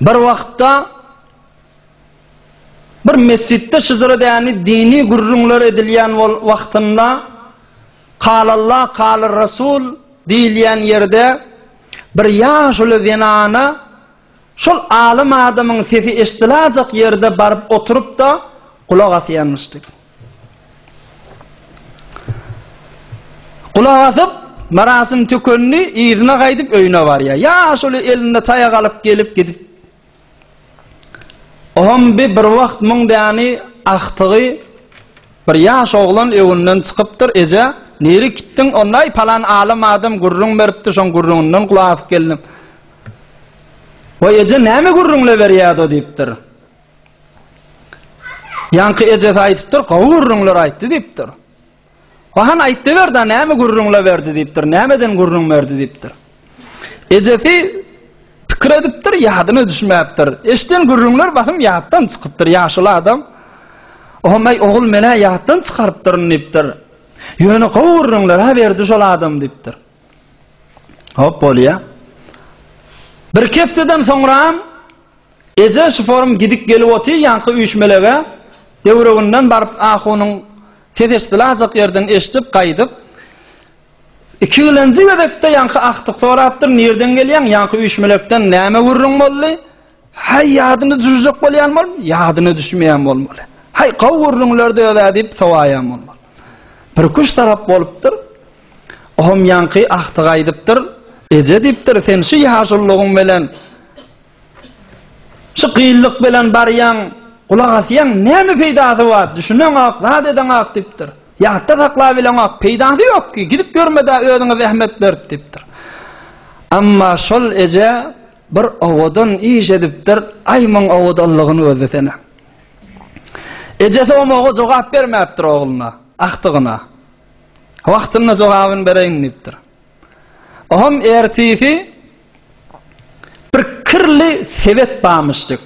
Bir wagtda bir mesjitde şyzyr edeni dini gürrüňler edilýän wagtynda Kalalla kalar Rasul diýilýän ýerde bir ýaşuly zenana şol alym adamyň sesi eşdilajak ýerde baryp oturyp-da gulak asýanmyşdy. Gulak asyp, Myrasym tükendi, yzyna gaýdyp öýüne barýar. Ýaşuly elinde taýak alyp gelip gidip. Oňam bi bir wagt muň däni agtygy bir ýaş oglan öwünden çykypdyr, Eje, nirä gitdiň? Ondaý palan alym adam gürrüň beripdi, şoň gürrüňinden gulak asyp geldim. Waý eje, näme gürrüňle berýärdi o diýipdir. Ýaňky ejesi aýdypdyr, gowy gürrüňler aýtdy diýipdir. Wahan aýtdy berdi, näme gürrüňle berdi diýipdir, nämeden gürrüň berdi diýipdir. Ejesi pikir edipdir, ýadyna düşmäpdir. Eşden gürrüňler basym ýatdan çykypdyr ýaşuly adam. Ohamay ogul menä ýatdan çykarypdyryn diýipdir. Ýöne gowy gürrüňler ha berdi şol adam diýipdir. Hop bolýa. Bir kefteden soňra Eje şu forum gidik gelip oty ýaňky üýşmelege döwreginden baryp ahunyň ses eşdilajak ýerden eşdip gaýdyp iki ilenji gezekde ýaňky agtyk sorapdyr nirden gelýäň ýaňky üýşmelekden näme gürrüň boldy haý ýadyna düşürjek bolýan bol ýadyna düşmeýän bolmaly haý gowy gürrüňlerdi özä diýip sowaýan bolmaly bir kuş tarap bolupdyr oham ýaňky agtyk aýdypdyr eje diýipdir sen şu ýaşullygyň belen Şu gyllyk bilen barýaň, gulak asýaň, näme peýdasy bar, düşüneňok, zat edeňok diýipdir. Ýatda saklabileňok, peýdasy ýok ki, gidip ýörme-dä, özüňe zähmet berip diýipdir. Emma şol eje bir owadan iş edipdir, aý muň owadanlygyny gözlesene. Ejesi omaga jogap bermäpdir ogluna, agtygyna. Wagtynda jogabyny bereýin diýipdir. Oňam ertisi Bir kirli sebet barmyşdyk.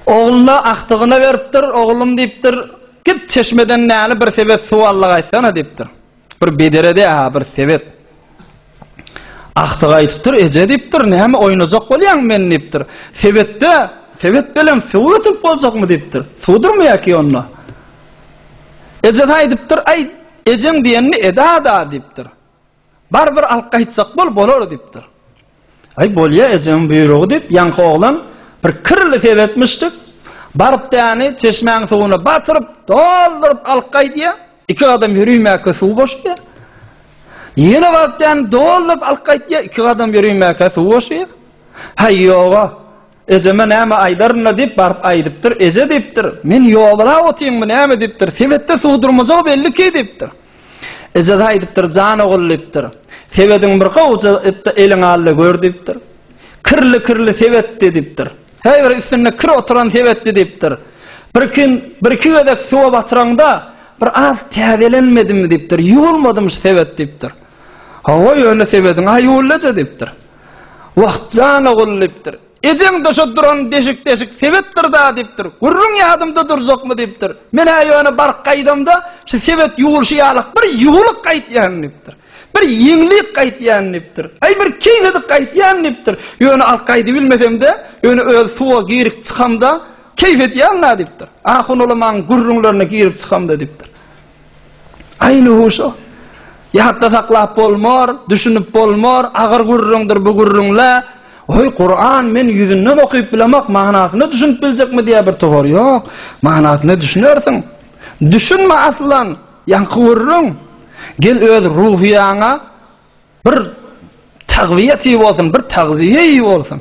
Ogluna agtygyna beripdir, oglum diýipdir, git çeşmeden näli bir sebet suw allagaýtsana diýipdir. Bir bederede ha bir sebet. Agtygy aýdypdyr, eje diýipdir, näme oýnajak bolýaň men diýipdir. Sebetde, sebet bilen suw getirip boljakmy diýipdir. Suwdurmy ýa-ki onda? Eje aýdypdyr, aý, ejeň diýenini eda-da diýipdir. Bar bir alyp gaýtsak bol, bolar, diýipdir. Aý, bolýa, ejeňiň buýrugy, diýip, ýaňky oglan bir kirli seretmişdik. Baryp däni çeşmäň suwuna batyryp, dolduryp alyp gaýdýar. Iki gadam ýörimäkä suw boşýar. Ýene baryp däni dolduryp alyp gaýdýar, iki gadam ýörimäkä suw boşýar. Haý, ýog-a. Ejeme näme aýdaryn-da diýip, baryp aýdypdyr. Eje diýipdir, Men ýogalap otyrynmy näme diýipdir. Sebetde suw durmajagy belliki diýipdir. Ejesi aýdypdyr, Jan ogul diýipdir, sebediň bir gowja it-de eliňe al-da gör diýipdir. Kirli-kirli sebetdi diýipdir. Häý bir üstünde kir oturan sebetdi diýipdir. Bir gün birki gezek suwa batyraňda bir az täzelenmedimi diýipdir. Ýuwulmadym şu sebet diýipdir. Hawa ýöne sebediň-ä ýuwuldy eje diýipdir. Wah, jan ogul, diýipdir. Ejeň-de şo duran deşik-deşik sebetdir-dä, diýipdir. Gürrüň ýadymda durjakmy, diýipdir. Men-ä ýöne baryp gaýdamda, şu sebet ýuwulşy ýalak bir ýuwulyk gaýtýan, diýipdir. Bir ýeňlik gaýtýan, diýipdir. Aý, bir keýnedik gaýtýan, diýipdir. Ýöne alyp gaýdybilmesem-de, ýöne öz suwa girip çykamda, keýp edýän-dä, diýipdir. Ahun ulamaň gürrüňlerine girip çykamda, diýipdir. Aýly huşa. Ýatda saklap bolmar, düşünip bolmar, agyr gürrüňdir bu gürrüňle. Oý, Kuran men ýüzünden okyp bilemok, manysyna düşünip biljekmi diýýär bir towar. Ýok, manysyna düşünersiň. Düşünme aslan, ýaňky gürrüň. Gel öz ruhyýaňa bir tagwiýet iý bolsun, bir tagziýe iý bolsun.